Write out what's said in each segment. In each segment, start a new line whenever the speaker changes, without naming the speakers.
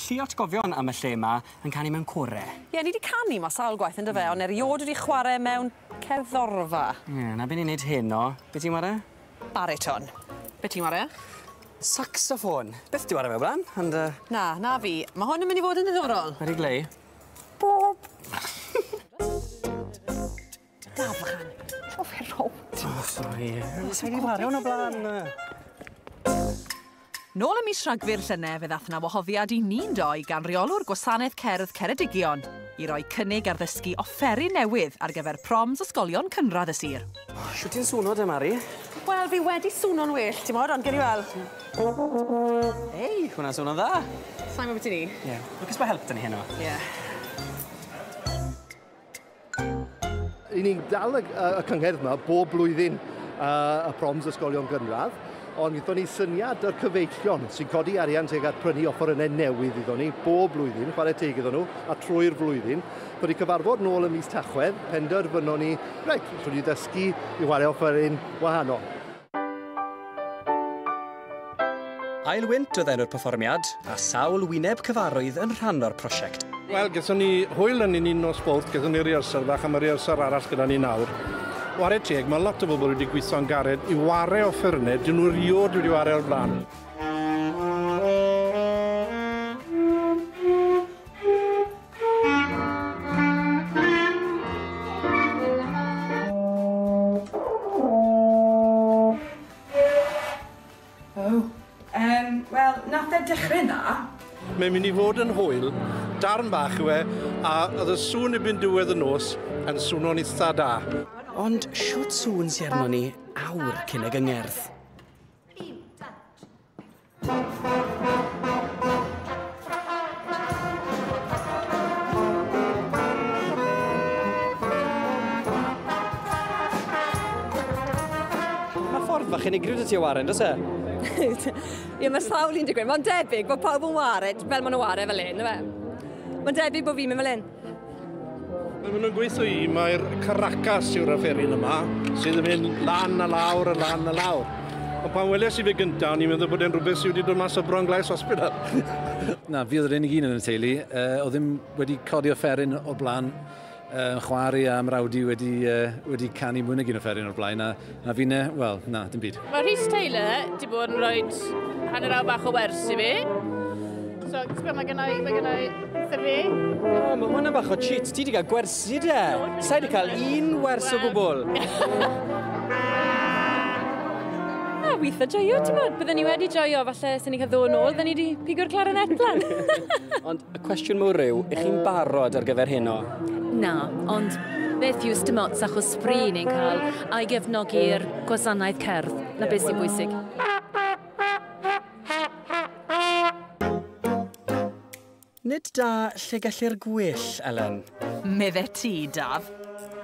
Lliatgofion am y lle ma yn canu mewn core. Ie ni di canu ma
sawl gwaith yndyfe mm. ond eriod wedi chware mewn cerddorfa. Ie na be ni'n
neud heno. Be ti'n ware? Bariton.
Be ti'n ware? Saxophone.
Beth di ware fe blan? And, uh... Na, na fi.
Mae hwn yn mynd i fod yn ddiddorol. Wedi glei?
Bob.
Dal fechan. O, fe rownd. O, sori. Os wedi
wario hwn o blaen.
Nôl ym mis Rhagfyr llynedd fe ddath na wahoddiad i ni'n doi gan reolwr Gwasanaeth Cerdd Ceredigion i roi cynnig ar ddysgu offeri newydd ar gyfer proms ysgolion cynradd y sir. Siwt ti'n swno
de, Mari? Wel, fi wedi
swno'n well, ti'n modd, ond gen i weld.
Ei, hwnna'n swno'n dda. Sa'n gwybod beth i ni? Ie.
Yeah. Lwcus bod help dyn
ni heno. Ie. Yeah.
I ni'n dal y, y cyngerdd yma bob blwyddyn uh, y proms ysgolion gynradd, ond gyda ni syniad o'r cyfeillion sy'n codi arian tuag at prynu offerynnau newydd iddo ni bob blwyddyn, chwarae teg iddo nhw, a trwy'r flwyddyn. Bydd ni cyfarfod nôl y mis Tachwedd, penderfynon ni, reit, rydyn ni ddysgu i chwarae offeryn wahanol.
Ail Wynt oedd enw'r perfformiad, a sawl wyneb cyfarwydd yn rhan o'r prosiect. Wel, gaethon ni
hwyl yn un nos bowt, gaethon ni rehearsal fach a mae rehearsal arall gyda ni nawr. Ware teg, mae lot o bobl wedi gweithio'n gared i ware offerynnau, dyn nhw riod wedi ware o'r blaen.
Mae'n mynd i
fod yn hwyl, darn bach yw e, a oedd y sŵn i byn diwedd y nos yn swnio'n eitha da. Ond
siwt sŵn sy'n arno ni awr cyn y gyngerdd. ffordd fach unigryw dy ti o waren, dos e?
Ie, mae sawl un digwydd. Mae'n debyg bod pawb yn wared fel maen nhw wared fel un, yw e? Mae'n debyg bod fi'n mynd fel un.
Maen nhw'n gweithio i, mae'r Caracas yw'r aferin yma, sydd yn mynd lan a lawr a lan a lawr. Ond pan weles i fe gyntaf, o'n i'n meddwl bod e'n rhywbeth sydd wedi dod mas o Bron Glais Hospital. Na, fi
oedd yr unig un yn y teulu. Uh, o ddim wedi codi offeryn o'r blaen. Uh, chwari a mrawd i wedi, uh, wedi canu mwy nag un offeryn o'r blaen. A A finne, wel, na, dim byd. Mae Rhys Taylor wedi
bod yn rhoi hanner awr bach o wers i fi. So, ti'n gwybod, mae gennau, mae gennau wrtho fi. O, oh, mae hwnna
bach o cheat. Ti wedi cael gwersi de. Sa'i wedi cael un wers o gwbl.
A weithio joio, ti'n bod. Byddwn ni wedi joio, falle, sy'n ni'n cael ddod yn ôl, byddwn ni wedi pigo'r clarinet lan. Ond Y
cwestiwn mawr yw, ych chi'n barod ar gyfer heno? Na,
ond beth yw dim ots achos fri ni'n cael a'i gefnogi i'r gwasanaeth cerdd, na beth sy'n bwysig.
Nid da lle gellir gwyll, Elen. Medde ti,
Daf.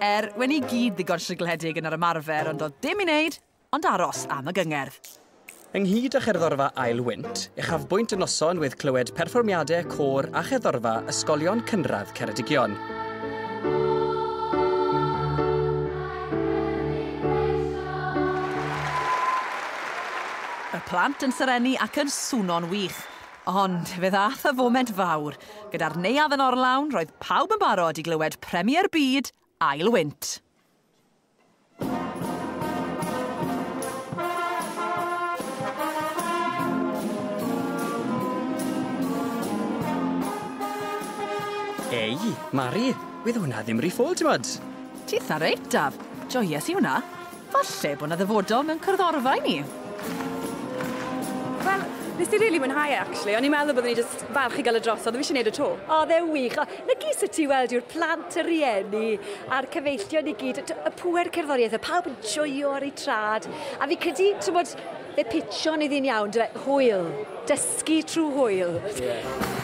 Er, wen i gyd ddigon sigledig yn yr ymarfer ond doedd dim i wneud, ond aros am y gyngerdd. Ynghyd
â Cherddorfa Ael Wynt, uchafbwynt y noson oedd clywed perfformiadau côr a cherddorfa ysgolion cynradd Ceredigion.
plant yn serennu ac yn swno'n wych. Ond fe ddath y foment fawr. Gyda'r neuadd yn orlawn, roedd pawb yn barod i glywed Premier Byd Ail Wynt.
Ei, Mari, wedd hwnna ddim ry ffôl, t'mod? Titha reit,
Daf. Joies i hwnna. Falle bod 'na ddyfodol mewn cyrddorfa i ni.
Wel, nes di rili mwynhau e, actually. O'n i'n meddwl byddwn ni jyst falch i gael y drosodd, o fi eisiau neud y to. Oedd e wych. Lygu sut i weld yw'r plant, y rhieni a'r cyfeillion i gyd, y pŵer cerddoriaeth, y pawb yn joio ar eu trad. A fi'n credu, ti'n bod, fe pitsio'n iddi'n iawn, dwe, hwyl, dysgu trwy hwyl. Yeah.